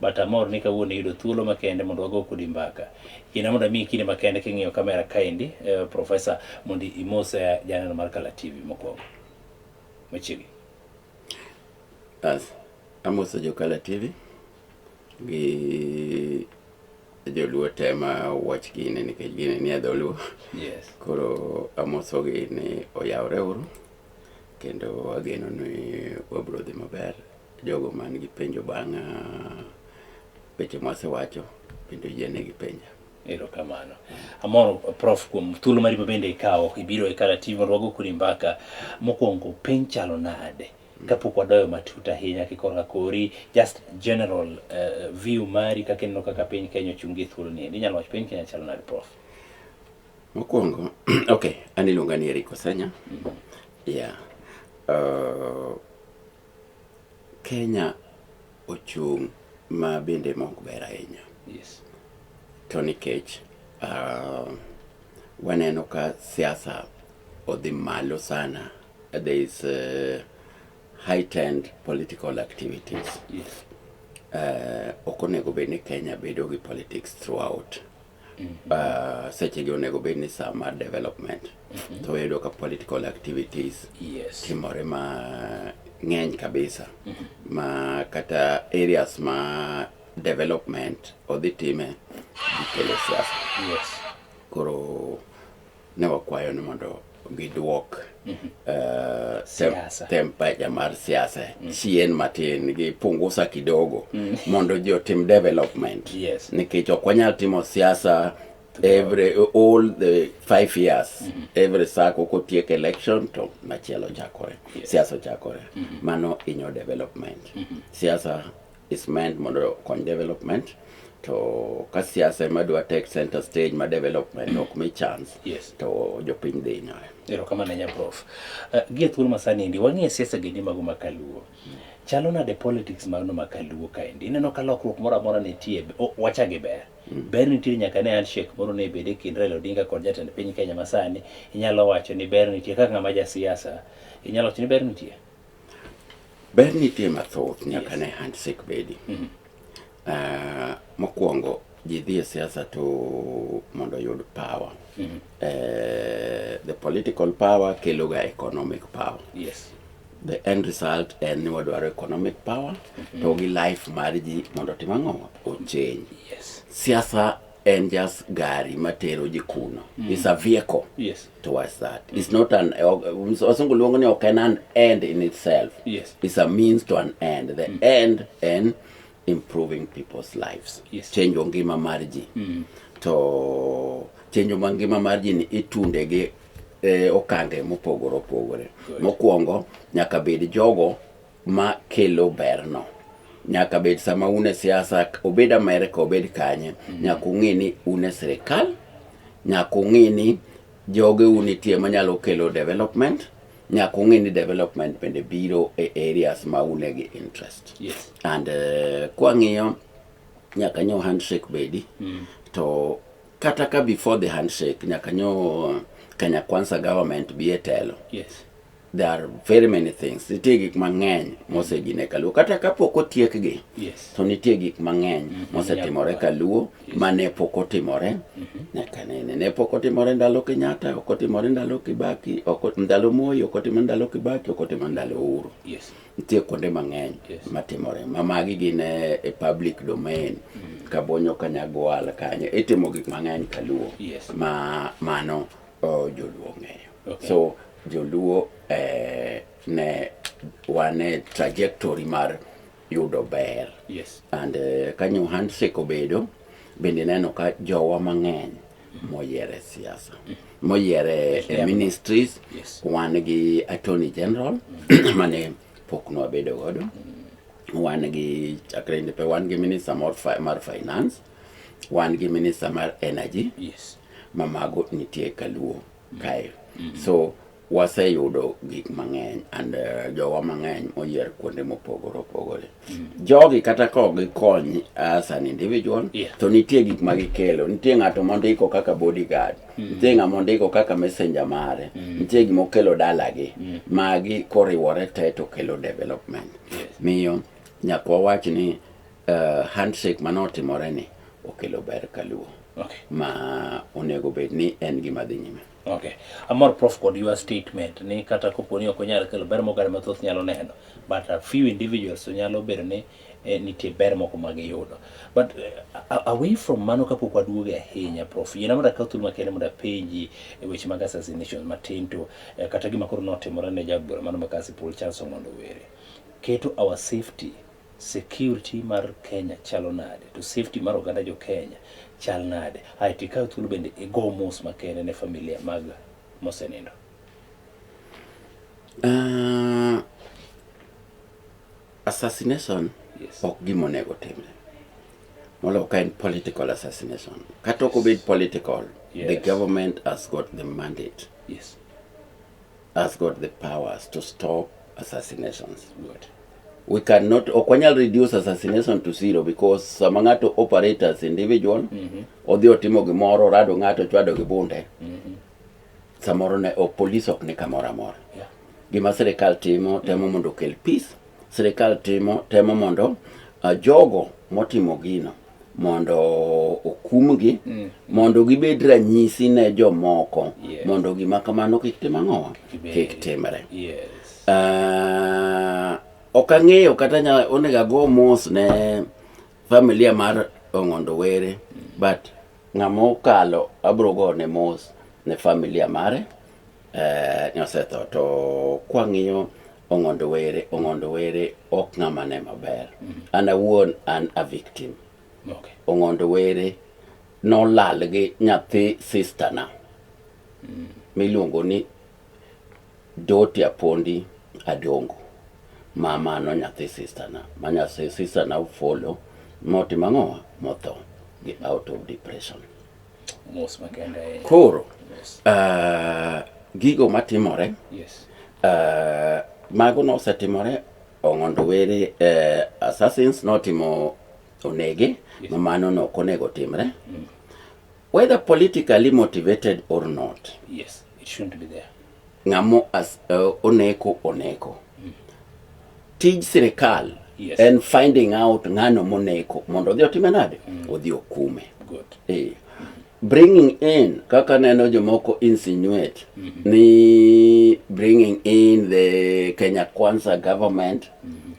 But amor ni kawuono iyudo thuolo makende mondo wago kodi mbaka. Yiena mondo amiyi kinde makende king'iyo kamera kaendi, eh, Profesa, mondo imos eh, janeno mar Kala TV mokwongo. Machiegni. As, amoso Jokala TV gi joluo te ma watch gine nikech gine ni e dholuo. Yes. Koro amosogi ni oyawre uru kendo ageno ni wabiro dhi maber Jogo man gi penjo bang' ah, weche mwasewacho bende oyiene gi penja. Erokamano. Amor prof kuom thuolo mari mabende ikawo ibiro e Kala TV mondo wago kodi mbaka. Mokwongo piny chalo nade? Kapok wadoyo matut ahinya kikorka kori just general uh, view mari kaka ineno kaka piny Kenya ochungi e thuolo ni. Inyalo wacho piny Kenya chalo nade prof? Mokwongo okay, an iluonga ni Eric Osanya. Mm -hmm. Yeah. Uh, Kenya ochung' ma bende ma ok ber ahinya. Yes. To nikech uh, waneno ka siasa odhi malo sana. There is uh, heightened political activities. Yes. Uh, ok onego bed ni Kenya bedo gi politics throughout. uh, seche gi onego bed ni saa mar development mm-hmm. to wayudo ka political activities yes. timore ma ng'eny kabisa mm-hmm. ma kata areas ma development odhi time gikelo siasa yes. koro ne wakwayo ni mondo gidwok eh, tem- Siasa. tempecha mar siasa chien matin gi pungusa kidogo mondo ji otim development Yes. nikech ok wanyal timo siasa every all the five years every sako kotiek election to machielo chakore siasa chakore mano inyo development siasa is meant mondo okony development to ka siasa ema dwa take center stage ma development mm. ok mi chance yes. to jopiny dhi hinyore erokamano nya prof uh, eh, gi e thuolo masani endi wang'e siasa gendi mago makaluo mm. chalo nade politics magno makaluo kaendi ineno ka lokruok moro amora nitie wacha gi ber mm. ber nitie nyaka ne handshake moro ne bede kind Raila Odinga kod jatend piny Kenya masani inyalo wacho ni ber nitie kaka ng'ama ja siasa inyalo wacho ni ber nitie Ber nitie mathoth nyaka ne handshake bedi. Ah, mokwongo ji dhi e siasa to mondo oyud power. Eh, the political power keloga economic power. Yes. The end result en ni wadwaro economic power to gi life mar ji mondo otim ang'o? Ochange. Yes. Siasa en just gari matero ji kuno mm. is a vehicle yes. towards that mm. it's not an wasungu luongo ni ok en an end in itself yes. it's a means to an end the mm. end en improving people's lives yes. chenjo ngima mar ji mm. to chenjo ma ngima mar ji ni itunde gi eh, okange mopogore opogore mokwongo nyaka bed jogo ma kelo berno nyaka bed sama un e siasa obed Amerika obed kanye mm. nyaka ung'e ni un e sirikal nyaka ung'e ni joge un nitie manyalo kelo development nyaka ung'e ni development bende biro e areas ma une gi interest yes. and uh, kwang'iyo nyaka nyo handshake bedi mm. to kata ka before the handshake nyaka nyo Kenya Kwanza government bi e telo yes. There are very many things. Nitie gik mang'eny mosedine Kaluo. Kata kapok otiekgi, Yes. to nitie gik mang'eny mosetimore Kaluo ma ne pok otimore nyaka nene. Ne pok otimore ndalo Kenyatta, ok otimore ndalo Kibaki, ok ot- ndalo Moi, ok otimore ndalo Kibaki, ok otimore ndalo Uhuru. Yes. Nitie kuonde mang'eny Yes. matimore. Ma magi gin e e public domain. Kabonyo Kanyagwal kanyo. Itimo gik mang'eny Kaluo. Yes. Ma mano Oh, joluo ng'eyo okay. so joluo eh, ne wane trajectory mar yudo ber yes. and eh, ka new handshake obedo bende neno ka jowa mang'eny moyiere siasa moyiere eh, ministries yes. wan gi attorney general mm. mane pok nwabedo godo mm. wan gi chakre ndepe wan gi minister mar finance wan gi minister mar energy yes. ma mago nitie kaluo kae mm -hmm. so waseyudo gik mang'eny and uh, jowa mang'eny moyier kuonde mopogore opogore mm. jogi kata ka ok gikony as an individual yeah. to nitie gik ma gikelo nitie ng'ato mondiko kaka bodyguard mm. nitie ng'a mondiko kaka messenger mare mm. nitie gima okelo dalagi mm. magi koriwore te to kelo development yes. miyo nyaka wawach ni Uh, handshake mane otimore ni okelo ber kaluo okay. ma onego bed ni en gima dhi nyime okay. amor prof kod your statement ni kata kopo ni ok onyal kelo ber mogare mathoth nyalo neno but a few individuals to nyalo bedo ni eh, nitie ber moko ma giyudo but uh, away from mano kapok waduoge ahinya prof yiena mondo akaw thuolo makende mondo apenji e weche mag assassination matin to eh, kata gima koro notimore ne jagoro mano makasi Paul Charles Omondo Were keto our safety Security mar Kenya chalo nade to safety mar oganda jo Kenya chal nade? Ae to ikaw thuolo bende igo mos makende ne familia mag mosenindo. Uh, assassination yes. ok gima onego timre molo ka en political assassination kata ok obed political yes. the government has got the mandate yes. has got the powers to stop assassinations. Good. We cannot ok wanyal reduce assassination to zero because sama ng'ato operate as individual mm -hmm. odhi otimo gimoro rado ng'ato chwado gi bunde mm -hmm. samoro ne ok police ok ni kamoro amora yeah. gima sirikal timo temo mondo okel peace sirikal timo temo mondo uh, jogo motimo gino mondo okumgi mm. mondo gibed ranyisi ne jomoko yes. mondo gima kamano kik tim ang'owa kik timre yes. uh, ok ang'eyo kata onego ago mos ne familia mar ong'ondo were mm. but ng'ama okalo abro go ne mos ne familia mare Eh, ne osetho to kwang'iyo ong'ondo were ong'ondo were ok ng'ama ne maber an awuon an a victim Okay. ong'ondo were nolal gi nyathi sistana miluongo ni doti apondi adongo mamano nyathi sistana ma nyathi sistana ofolo motimo ang'owa motho gi out of depression mos makende ahinya. koro Yes. uh, gigo matimore Yes. uh, mago nosetimore ong'ondo were uh, assassins notimo onege ma mano no ok onego timre whether politically motivated or not Yes. It shouldn't be there. ng'amo as, uh, oneko oneko mm. tij sirikal yes. en finding out ng'ano moneko mondo odhi otime nade mm. odhi okume Good. Eh. bringing in kaka neno jomoko insinuate mm -hmm. ni bringing in the kenya kwanza government mm -hmm.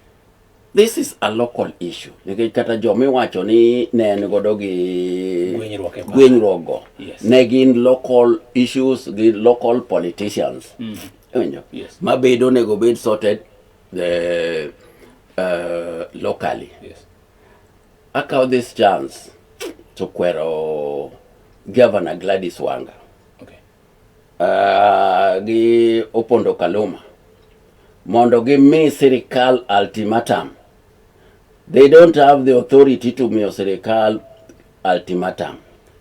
This is a local issue nikech kata jo miwacho ni ne en godo gi gwenyruok go yes. ne gin local issues gi local politicians mm. Iwinjo? Yes. Mabedo onego bed sorted the, uh, uh, locally. Yes. Akaw this chance to kwero Governor Gladys Wanga. Okay. uh, gi Opondo Kaluma mondo gimi sirikal ultimatum. They don't have the authority to miyo sirikal ultimatum.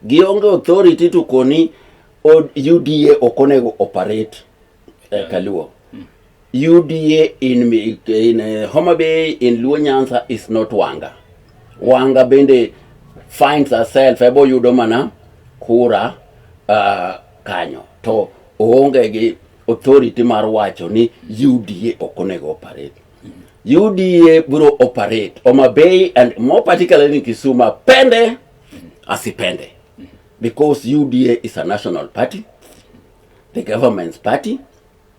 Gionge authority to koni UDA ok onego operate e Kaluo. UDA in, in uh, Homa Bay, in Luo Nyanza is not Wanga. Wanga bende finds herself ebo yudo mana kura uh, kanyo to oonge gi authority mar wacho ni UDA ok onego operate. UDA biro operate Homa Bay and more particularly in Kisumu pende asipende because UDA is a national party, the government's party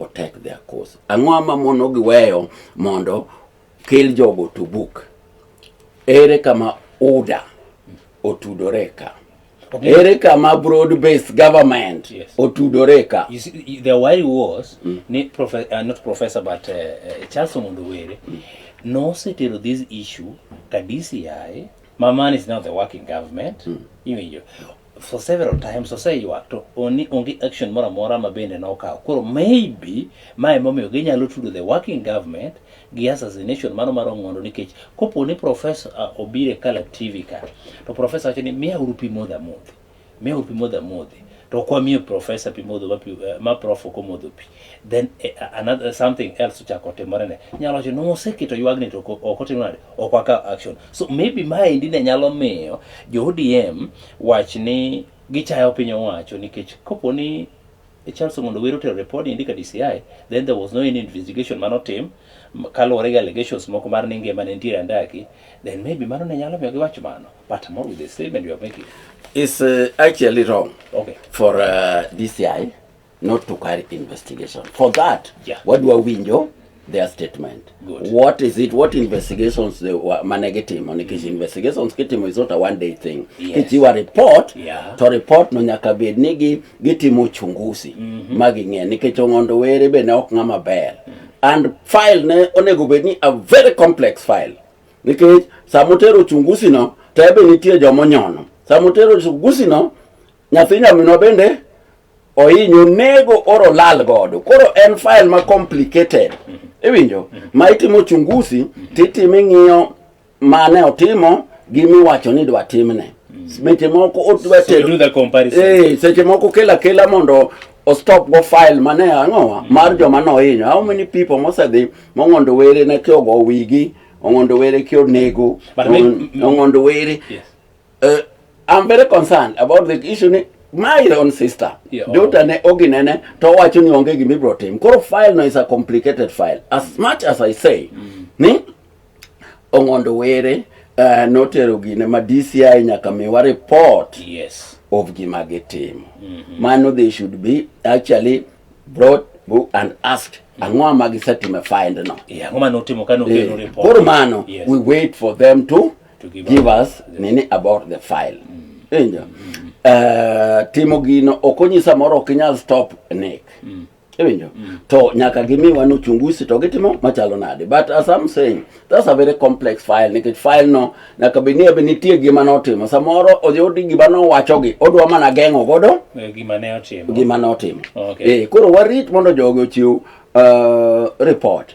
otek their cause. Ang'o ma mono giweyo mondo kel jogo to book? Ere kama UDA otudore ka? Ere kama broad based government yes. otudore ka? You see, the worry was mm. ni profe uh, not professor but uh, uh, Charles Omondo Were mm. nosetero this issue ka DCI Mamani is now the working government mm. iwinjo for several times oseywak to oni onge action moro amora ma bende nokawo. Koro maybe ma emomiyo ginyalo tudo the working government gi assassination mano mar Ong'ondo nikech kopo ni professor uh, obiro e Color TV ka to professor wacho ni miya uru pi modho amodhi, miya uru pi modho amodhi to ok wamiyo professor pi modho ma, pi, uh, ma prof ok omodho pi then uh, another something else ochako otimore ne nyalo wacho noseketo ywagni to ok otimore ok wakaw action so maybe maendi ne nyalo miyo jo odm wach ni gichayo piny owacho nikech kopo ni charles omondo wero tero report endi ka dci then there was no any investigation mano tim kaluwore gi allegations moko mar ni ngima ne nitiere andaki then maybe mano ne nyalo miyo giwach mano but more with the statement you are making is uh, actually wrong okay for uh, DCI not to carry investigation for that yeah. wadwa winjo their statement Good. what is it what investigations they were mane gitimo nikech investigations kitimo is not a one day thing Yes. kichiwa report Yeah. to report no nyaka bed ni gi gitimo uchunguzi ma ging'e nikech ong'ondo were be ne ok ng'ama ber and file ne onego bed ni a very complex file nikech samotero uchunguzi no to ebe nitie jomonyono samotero uchunguzi no nyathi nyaminwa bende ohinyo nego oro lal godo koro en file ma complicated iwinjo ma itimo chungusi titime ng'iyo mane otimo gi miwacho ni dwa timne seche moko odwa So you do the comparison. Eh, seche moko kela kela mondo o stop go file mane ang'owa mar joma nohinyo how many people mosedhi mong'ondo were ne kiogo wigi ong'ondo were kionego But me- ong'ondo were Yes. Uh, I'm very concerned about the issue ni my own sister yeah, daughter oh. ne oginene to wacho ni onge gima ibro tim koro file no is a complicated file as much as I say mm. ni ong'ondo were uh, notero gine ma DCI nyaka miwa report yes. of gima gitimo mm -hmm. mano they should be actually brought and asked ang'o ma gisetimo e find no yeah, eh, koro mano yes. we wait for them to to give, give us, us nini about the file mm. injo mm. uh, timo gino ok onyisa moro ok inyal stop nek mm. iwinjo mm. to nyaka gimiwa ni uchungusi to gitimo machalo nade but as I'm saying that's a very complex file nikech file no nyaka bed ni ebe nitie gima notimo samoro odhi odi gima nowachogi odwa mana geng'o godo eh, gima ne otimo gima notimo okay. eh, koro warit mondo jogi ochiw uh, report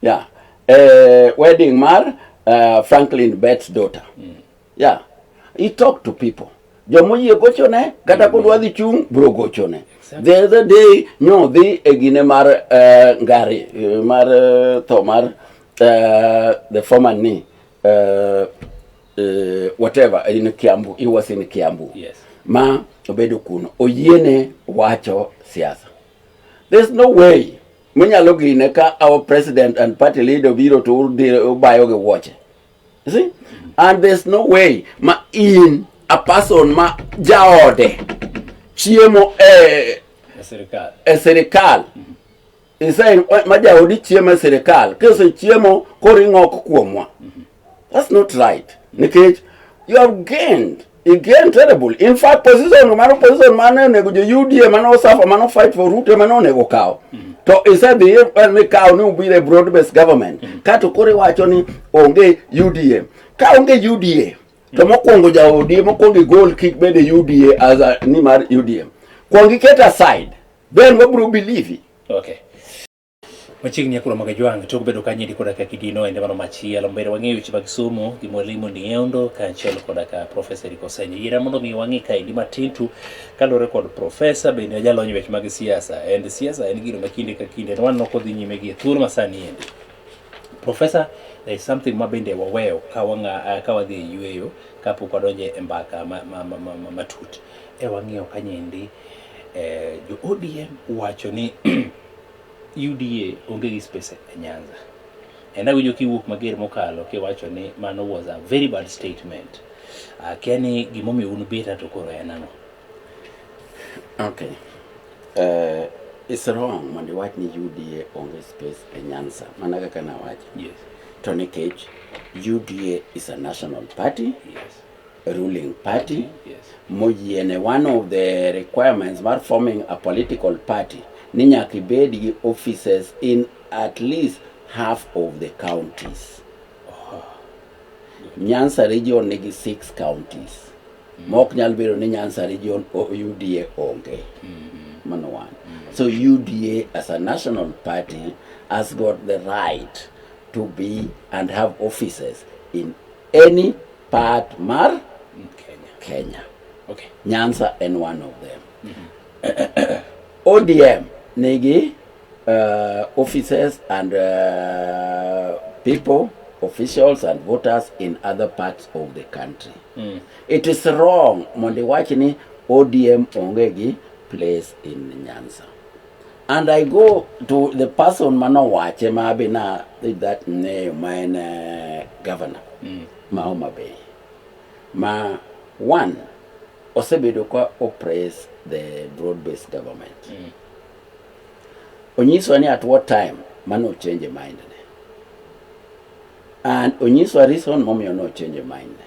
Yeah. Uh, wedding mar uh, Franklin Betts daughter. Mm. Yeah. He talked to people. Jomoyie gochone kata mm. kodwa dhi chung' bro gochone. Exactly. The other day nyo dhi e gine mar uh, ngari uh, mar uh, tho mar uh, the former ni uh, uh, whatever in Kiambu. He was in Kiambu. Yes. Ma obedo kuno. Oyiene wacho siasa. There's no way Minyalo gine ka our president and party leader biro to ubayo gi wuoche. You see? And there's no way ma in a person ma jaode chiemo e Sirikal. e sirikal isai ma jaodi chiemo e sirikal kisechiemo koring'ok kuomwa That's not right. Nikech you have gained he gained terrible. In fact, position mano position mane onego jo UDA mane osafa mano fight for Ruto mane onego kawo. Mm -hmm. To isedhi e, ni kawo ni ubire broad based government. Mm -hmm. Kato kore wacho ni onge UDA. Ka onge UDA to mhm. mokwongo ja ODM mokwongo gol kik bede UDA as a, ni mar UDM. Kwongi ket aside. Then wabro believe. Okay. Machiegni akula mag Ajwang' tok bedo ka nyidi koda ka kidino ende mano machielo. Mbele wang'eyo weche mag somo gi mwalimu Nieondo kaachiel koda ka Profesa Eric Osenyo. Yiena mondo mi wang'e kaendi matin tu kaluwore kod Profesa bende ojalony e weche mag siasa. And siasa en gino ma kinde ka kinde to waneno kodhi nyime gi e thuolo masani endi. Profesa, there is something ma bende waweyo ka wang'a ka wadhi e yueyo kapok wadonje e mbaka ma, ma, ma, ma, ma, matut. E wang'eyo kanyendi eh, jo ODM wacho ni UDA onge gi space e Nyanza. And awinjo kiwuok mager mokalo kiwacho ni mano was a very bad statement. Akia ni gimomiyo un beta to koro en ang'o? Okay. Uh, it's wrong mondo iwach ni UDA onge space e Nyanza. Mana kaka nawacho. Yes. To nikech UDA is a national party. Yes. ruling party moyiene one of the requirements mar forming a political party ni nyaka ibed gi offices in at least half of the counties nyansa region nigi six counties ma ok nyal bedo ni nyansa region o- uda onge mano one so uda as a national party has got the right to be and have offices in any part mar Kenya. Kenya. Okay. Nyanza en one of them. Mm -hmm. ODM nigi uh, offices and uh, people officials and voters in other parts of the country. Mm. It is wrong mondo iwach ni ODM onge gi place in Nyanza. And I go to the person manowache ma be na that name ma en uh, governor mm. ma Homa Bay ma one osebedo ka oppress the broad based government mm. onyiso ni at what time mano change mind ne and onyiso reason momiyo no change mind ne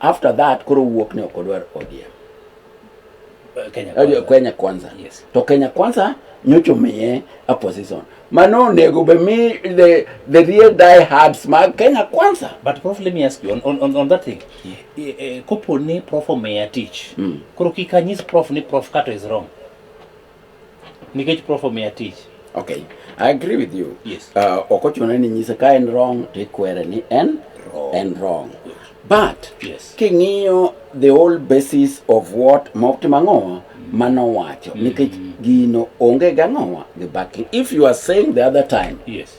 after that koro wuok ni ok odwar ODM eh, Kenya eh, kwanza, Kenya kwanza. Yes. to Kenya kwanza nyocha omiye a position mano onego be mi the, the real die hards mag Kenya kwanza but prof let me ask you on, on, on that thing yeah. e, e, kopo ni prof omiya tich mm. koro kik anyis prof ni prof kato is wrong nikech prof omiya tich okay i agree with you yes uh, ok ochuno ni nyise ka en wrong to ikwere ni en wrong. en wrong but yes. king'iyo the whole basis of what mofti mang'owa manowacho mm. nikech gino onge gang'owa gi baki if you are saying the other time yes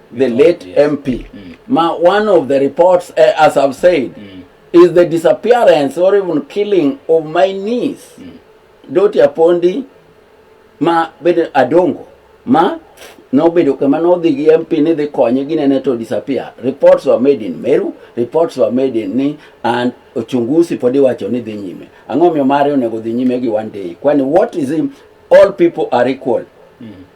the late yes. MP. Mm. Ma, one of the reports, uh, as I've said, mm. is the disappearance or even killing of my niece, mm. Doti Apondi, ma bedo Adongo, ma nobedo kama nodhi gi MP ni dhi konye ginene to disappear. Reports were made in Meru, reports were made in ni and uchunguzi podi wacho ni dhi nyime. Ang'o miyo mare onego dhi nyime gi one day. Kwani what is him? All people are equal. Mm.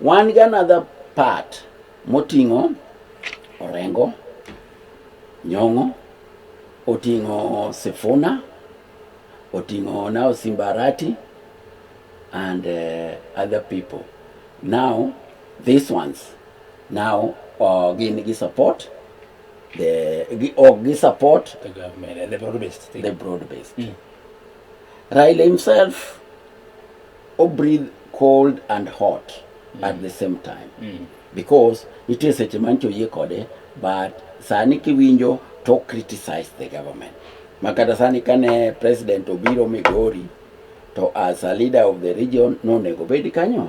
Wan gi another part moting'o Orengo, Nyong'o, oting'o Sifuna, oting'o now Simbarati and uh, other people. Now these ones now uh, gin gi support the gi, oh, gi support The government, the broad based thing. the broad based. Raila himself o breathe cold and hot mm. at the same time mm. because nitie seche ma nchoyie kode but sani kiwinjo to criticize the government makata sani kane president obiro migori to as a leader of the region nonego bedi kanyo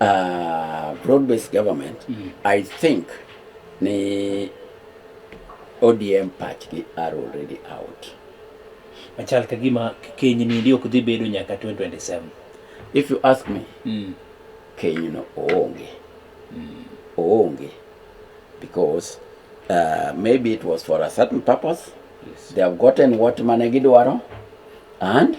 Uh, broad based government mm. I think ni ODM pachgi are already out. Machal ka gima keny ni ndio kudhi bedo nyaka 2027. If you ask me, mm. keny no oonge. Mm. Oonge because uh, maybe it was for a certain purpose. Yes. They have gotten what mane gidwaro and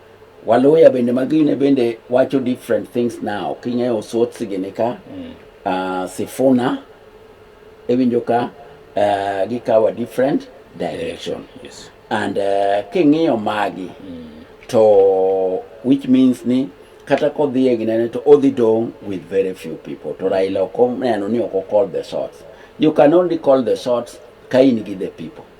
Waluya bende magine bende wacho different things now. Kingeyo osot sigini ka. Mm. Uh, sifuna ewinjo ka uh, gikawo a different direction. Yes. yes. And uh, kingiyo magi mm. to which means ni kata kodhi e ginene to odhi dong with very few people to Raila ok oneno ni ok okol the shots. You can only call the shots ka in gi the people.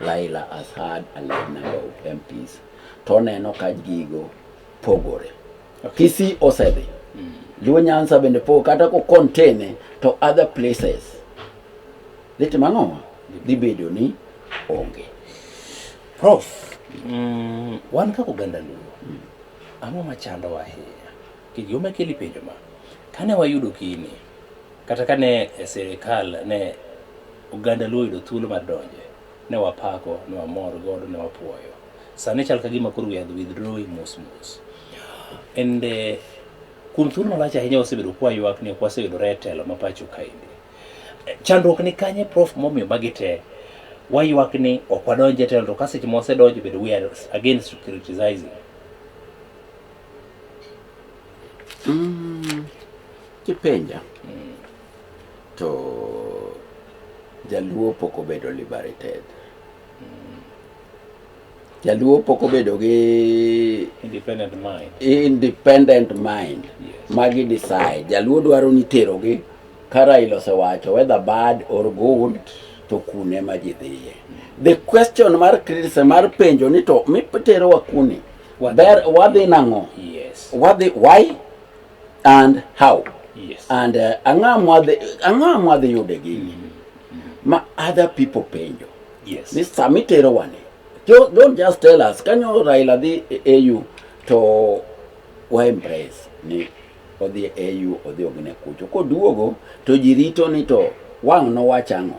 Laila has had a large number of MPs to oneno ka gigo pogore. Okay. Kisii osedhi. Mm. Luo Nyanza bende pogo kata ko contain to other places. Dhi timo ang'o? Dhi bedo ni onge. Prof, mm, wan kaka oganda Luo, mm. ang'o machandowa ahinya? Gima keli penjo ma, kane wayudo kini, Kata ka ne e sirikal ne oganda Luo oyudo thuolo mar donje, ne wapako, ne wamor godo, ne wapuoyo. Sani chal ka gima koro we are withdrawing mos mos. And eh, kuom thuolo malach ahinya wasebedo kwa ywak ni ok waseyudore e telo ma pacho kaendi. Eh, Chandruok ni kanye prof momiyo magi te waywak ni ok wadonje e telo to ka seche ma wasedonjo bedo we are again criticizing. Mm, kipenja mm. to jaluo pok obedo liberated mm. jaluo pok obedo gi independent mind, independent mind. Yes. magi decide jaluo dwaro ni terogi kara ilose wacho whether bad or good to kune ma ji dhiye the question mar krise mar penjo ni to miterowa kuni Wadhi. Ber wadhi nang'o? Yes. Wadhi why and how? Yes. And uh, ang'a mwadhi ang'a mwadhi yude gini. Mm -hmm. Ma other people penjo. Yes. Ni sami tero wani. Don't, don't just tell us kanyo Raila dhi AU to wa embrace ni odhi AU odhi ogine kucho. Koduogo to jirito ni to wang' no wachang'o.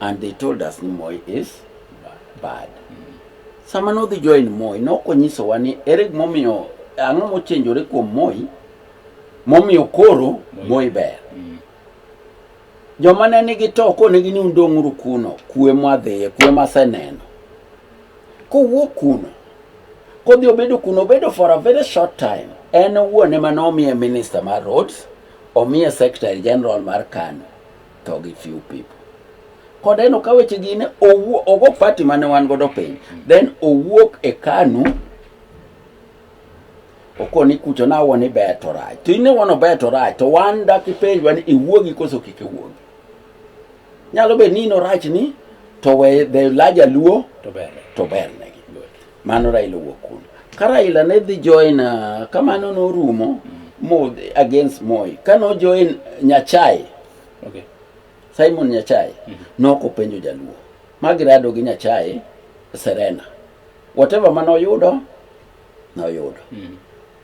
And they told us ni Moi is bad. Sama nodhi join Moi, nok onyisowa ni ere gimomiyo ang'o mochenjore kuom Moi momiyo koro Moi ber. Joma ne nigi to konegi ni undong'uru kuno, kue mwadhiye, kue maseneno. Kowuok kuno, kodhi obedo kuno, obedo for a very short time. En owuon ema nomiye minister mar roads, omiye secretary general mar Kano. tho gi few people kod eno ka weche gi ne owuo ogo party mane wan godo piny then owuok e kanu okoni kucho na woni beto raj to ine wono beto raj to wan dak ipenjwa ni iwuogi koso kik iwuogi nyalo bedo ni ino rach ni to we the larger luo to berne to berne Mano Raila owuok kuno. Ka Raila ne dhi join uh, kamano norumo mo against Moi. Ka no join Nyachae, Okay. Simon Nyachae noko penjo jaluo. Magirado gi Nyachae Serena. Whatever mano oyudo noyudo.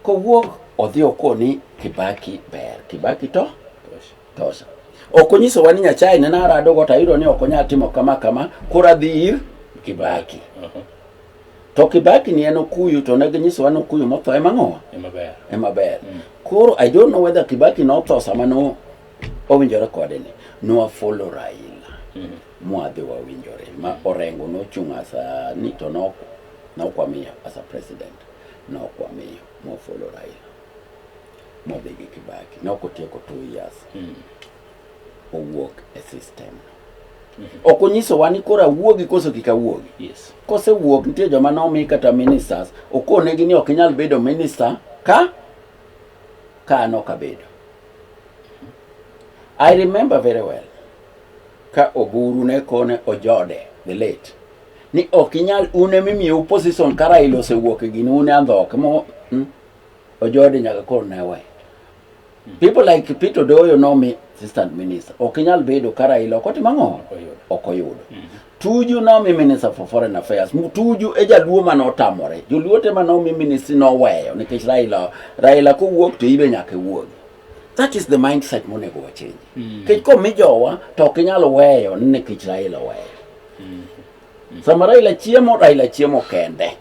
Kowuok odhi okoni Kibaki ber. Kibaki to Tosha. Tosha. Ok onyisowa ni Nyasaye ne narado go tayudo ni ok onyal timo kama kama, koro adhi ir Kibaki. To Kibaki ni en Okuyu to ne ginyisowa ni Okuyu motho ema ng'owa, Ema ber. ema ber. Koro I don't know whether Kibaki notho sama no owinjore kode ni nwafollow Raila mwadhi wawinjore ma Orengo nochung' as a ni to nok nokwamiyo as a president nokwamiyo mwafollow Raila modhi gi Kibaki ne ok otieko two years mm. owuok e system mm -hmm. ok onyisowa ni koro awuogi koso kik awuogi yes. kosewuok nitie joma nomi kata ministers okonegi ni ok inyal bedo minister ka ka an ok abedo I remember very well ka Oburu ne kone Ojode the late ni ok inyal une mimiyo position ka Raila osewuok e gini une andhoke mo hmm? Ojode nyaka koro ne we. Hmm. People like Peter Odoyo nomi assistant minister. Ok inyal bedo ka Raila ok otimo ang'o? Ok oyudo. Hmm. Tuju nomi minister for foreign affairs. Tuju e jaluo mane otamore. Joluo te mane omi ministry noweyo nikech Raila Raila kowuok to ibe nyaka wuog. That is the mindset monego wachange. Hmm. Kech komi jowa to ok inyal weyo ni nikech Raila oweyo. Sama Raila chiemo, Raila chiemo kende.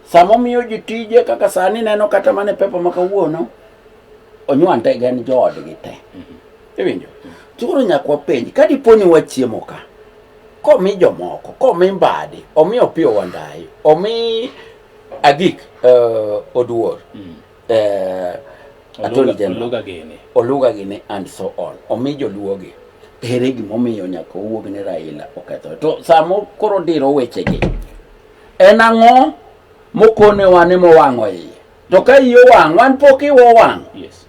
Sama omiyo ji tije kaka sani neno kata mana e pepa ma kawuono, onywante gin joodgi te. Iwinjo? To koro nyaka wapenj, ka dipo ni wachiemo ka, komi jomoko, komi Mbadi, omi Opiyo Wandayi, omi Agik eh, Oduor, eh, Attorney General, Oluga gini. Oluga gini and so on, omi joluogi. Ere gimomiyo nyaka owuog ni Raila okethore? To samo koro diro wechegi, En ang'o mokonewa ni mowang'o iye? To ka iye owang', wan pok iwa owang'. Yes.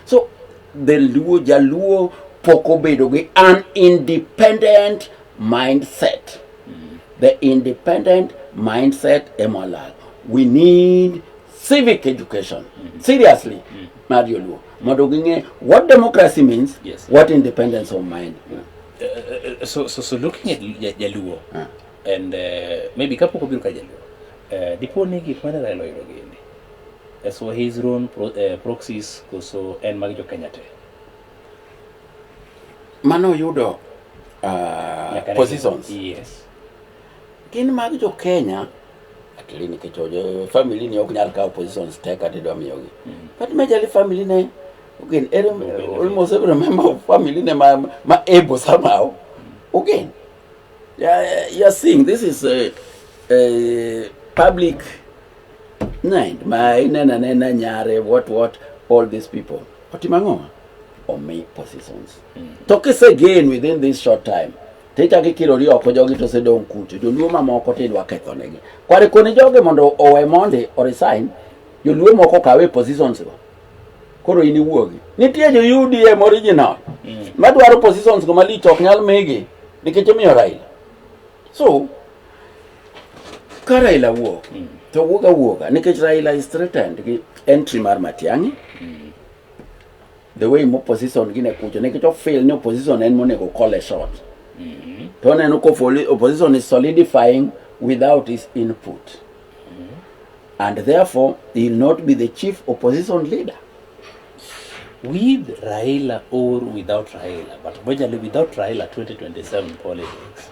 So the Luo, Jaluo pok obedo gi an independent mindset. Mm. The independent mindset emolal. We need civic education. Mm. Seriously, mm. mar Joluo. Mondo ging'e what democracy means, yes. what independence of mind. Yeah. Uh, uh, uh, so, so, so looking at Jaluo, uh. And uh, maybe kapok obiro ka jaluo, uh, dipo ni gik mane Raila oyudo gini as for his own pro, uh, proxies koso en mag jo Kenya te? Mano oyudo uh, positions. Yes. Gin mag jo Kenya atili nikech ojo family ni ok nyal kawo positions te kata idwa miyogi. Mm. But majorly family ne again every, almost every member of family ne ma, ma able somehow again Yeah, you're seeing this is a, a public nine. My nana nana nyare what what all these people. Otimango or me positions. Mm. Talk is again within this short time. Tita kikiro ri oko jogi to sedong kutu. Joluo mamoko to idwa ketho negi. Kware koni jogi mondo owe mondi or resign. Joluo moko kawe positions go. koro in iwuogi nitie jo udm original mm. madwaro positions go malich ok nyal migi nikech omiyo raila so ka raila wuok mm. to wuok awuoga nikech raila is threatened gi entry mar matiang'i mm. the way mo position gine kucho nikech ofil ni opposition en monego call a shot mm -hmm. to oneno ko opposition is solidifying without his input and therefore he will not be the chief opposition leader with Raila or without Raila but majorly without Raila 2027 politics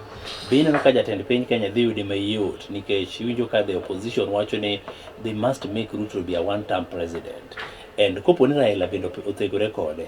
bino kaka jatend piny Kenya dhi yude mayot nikech iwinjo ka the opposition wacho ni they must make Ruto be a one term president and kopo ni Raila bende othegore kode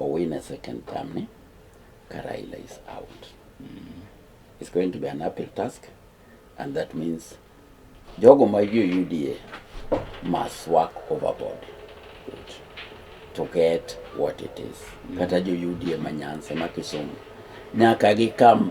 Owine second term ni ka Raila is out. Mm. It's going to be an uphill task and that means jogo ma jo UDA must work overboard to get what it is. Mm. Kata jo UDA ma Nyanza ma Kisumu nyaka gikam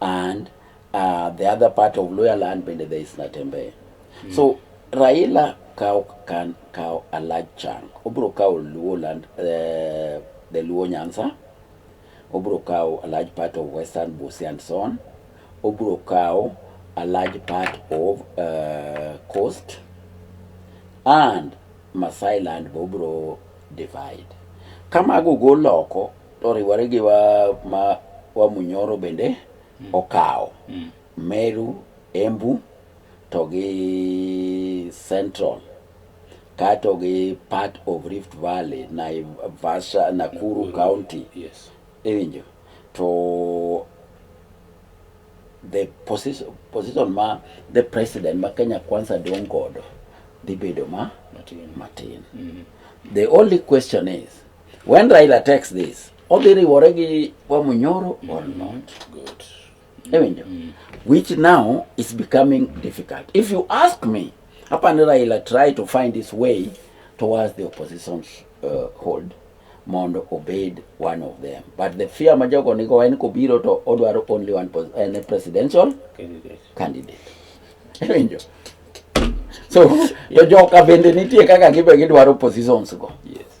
and uh, the other part of Luya land bende there is Natembeya mm. so Raila kawo kan kawo a large chunk obiro kawo Luo land uh, the Luo Nyanza obiro kawo a large part of Western Busia and so on obiro kawo a large part of uh, coast and Masai land be obiro divide kamago golo oko Oriwore gi wa ma wa Munyoro bende mm. okawo mm. Meru, Embu to gi Central kato gi part of Rift Valley, Naivasha, Nakuru, Nakuru County. Yes. Iwinjo. To the position, position ma the president ma Kenya Kwanza dong' godo dhi bedo ma matin. matin. Mm -hmm. The only question is When Raila takes this, odhi riwore gi Wamunyoro or mm, not? Good. Ewinjo? Mm. Which now is becoming difficult. If you ask me, hapa ni Raila try to find his way towards the opposition's uh, hold mondo obed one of them but the fear ma jogo nigo en kobiro to odwaro only one pos en a presidential candidate, candidate. Ewinjo? so to joka bende nitie kaka gibe gidwaro positions go yes.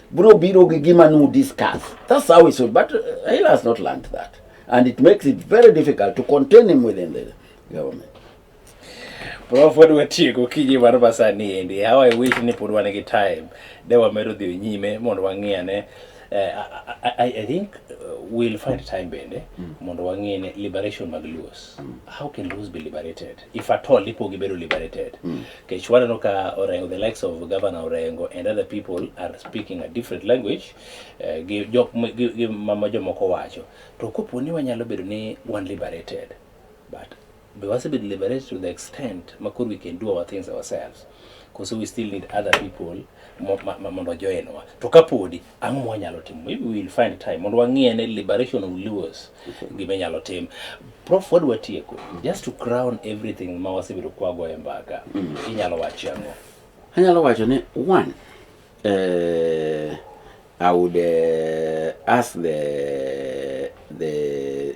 Bro biro gi gima nu discuss. That's how it should, but uh, Raila has not learned that. And it makes it very difficult to contain him within the government. Prof pod watieko kinyi mar masani endi. How I wish ni pod wan gi time. De wamedo dhi nyime mondo wang'iyane. Uh, I, I, I think uh, we'll find time bende mm. mondo wang'iyane liberation mag Luos. Mm. How can Luos be liberated? if at all ipo gibedo liberated mm. kech waneno ka orengo the likes of governor orengo and other people are speaking a different language uh, gi jok gi mama jomoko wacho to kopo ni wanyalo bedo ni one liberated but be wasebedo liberated to the extent ma koro we can do our things ourselves because we still need other people mondo joinwa to kapodi ang'o mwanyalo timo maybe we'll find time mondo wang'iye ne liberation of Luos gima inyalo tim prof wadwa tieko just to crown everything ma wasebedo kwago e mbaka mm. inyalo wachi ang'o anyalo wacho ni one uh, I would uh, ask the the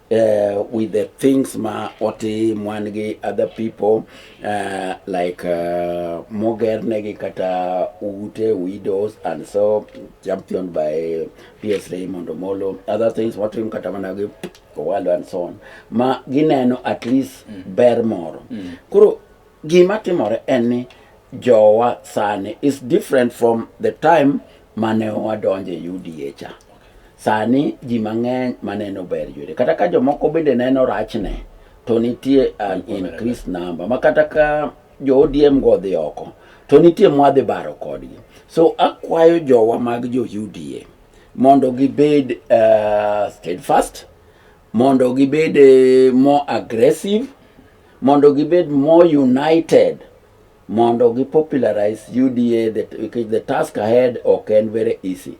uh, with the things ma oti mwan gi other people uh, like uh, mogernegi kata ute widows and so champion by PS Raymond Omolo other things watim kata mana gi Owalo and so on ma gineno at least mm. ber moro mm. koro gima timore en ni jowa sani is different from the time mane wadonje UDA cha Sani ji mang'eny maneno ber Jode, kata ka jomoko bende neno rachne, to nitie an in Chris namba ma kata ka jo ODM go odhi oko, to nitie mwadhi baro kodgi. So akwayo jowa mag jo UDA mondo gibed uh, steadfast, mondo gibed uh, more aggressive, mondo gibed more united mondo gi popularize UDA that because the task ahead ok en very easy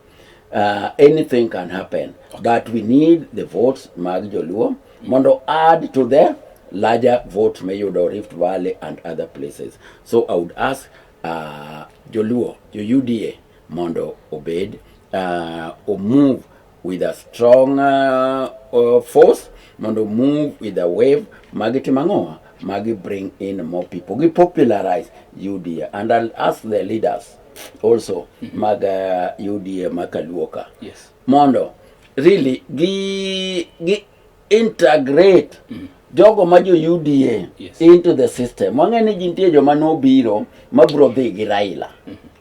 uh, anything can happen okay. but we need the votes mag joluo mondo add to the larger vote mayudo Rift Valley and other places so I would ask uh, joluo jo UDA mondo obed uh, omove with a strong uh, uh, force mondo move with a wave magitimo ang'owa magi bring in more people gi popularize UDA and I'll ask the leaders also mm -hmm. mag uh, UDA makaluoka yes. mondo really gi, gi integrate mm -hmm jogo ma jo UDA yes. into the system wang'e ni jintie joma nobiro mabro dhi gi Raila mm -hmm.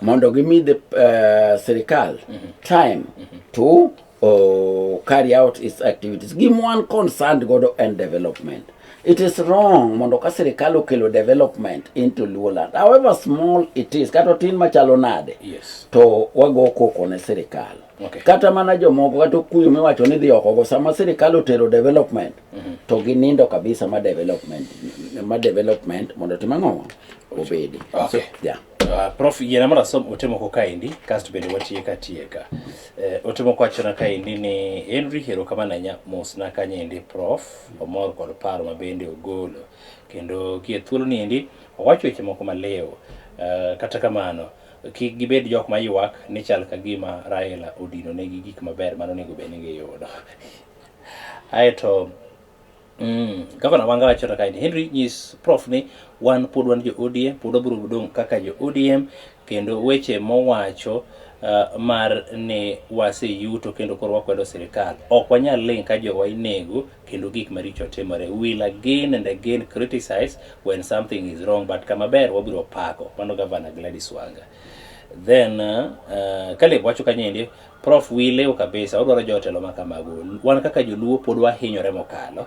mondo gimi the uh, sirikal time to uh, carry out its activities gima wan concerned godo en development it is wrong mondo ka sirikal okelo development into luoland however small it is kata otin machalo nade Yes. to wago koko ne sirikal Okay. kata mana jomoko kata okuyo miwacho ni dhi okogo sama sirikal otero development to ginindo kabisa ma development ma development mondo tim ang'o obedi Okay. so, yeah. Uh, prof yena mondo asom ote moko kaendi kasto bende watieka tieka eh, ote moko wachona kaendi ni henry hero kama nanya mosna kanyendi prof omor kod paro ma bende ogolo kendo kie thuolo ni endi owacho weche moko malewo uh, kata kamano kik gibed jok ma ywak ni chal ka gima raila odino negi gik maber mano onego bed ni giyudo aeto Mm. Gavana Wanga wacho to kaini Henry nyis prof ni wan pod wan jo ODM pod wabiro dong' kaka jo ODM kendo weche mowacho uh, mar ni waseyuto kendo koro wakwedo sirikal ok wanyal ling' ka jowa inego kendo gik maricho timore we will again and again criticize when something is wrong but kama ber wabiro pako mano gavana Gladys Wanga then uh, uh, Caleb wacho kanyendi Prof wi lew kabisa, odwaro jotelo ma kamago. Wan kaka joluo pod wahinyore mokalo.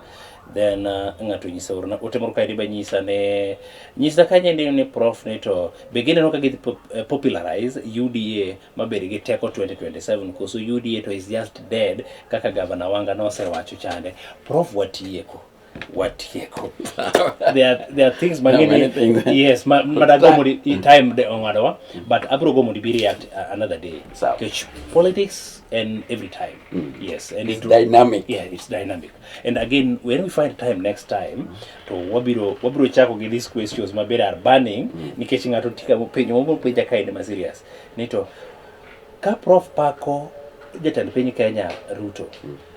Then uh, ng'ato nyisa orna ote moro kae ba nyisa ne nyisa kanye ni ni prof ni to be gineno ka gidhi pop- eh, popularize UDA mabed gi teko 2027 koso UDA to is just dead kaka gavana Wanga nosewacho chande. Prof watieko. watieko there, are, there are things mang'eny no, yes ma, madago mondo time de ong'adowa but abro go mondo ibi react uh, another day because politics and every time mm. yes and it's it, dynamic yeah it's dynamic and again when we find time next time mm. to wabiro wabiro chako gi these questions maber are burning mm. nikech ng'ato tika penjo mobiro penja kaende ma serious ni to ka prof pako jatend piny kenya ruto mm.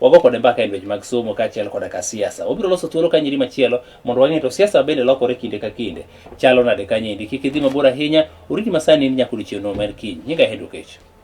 Wago kode mbaka e lwenje mag somo kaachiel koda ka siasa. Wabiro loso thuolo ka nyiri machielo mondo wang'e to siasa bende lokore kinde ka kinde. Chalo nade kanyendi? Kik idhi mabor ahinya, oriti masani in nyaka odiechieng' no maen kiny. Nyinga Henry Okech.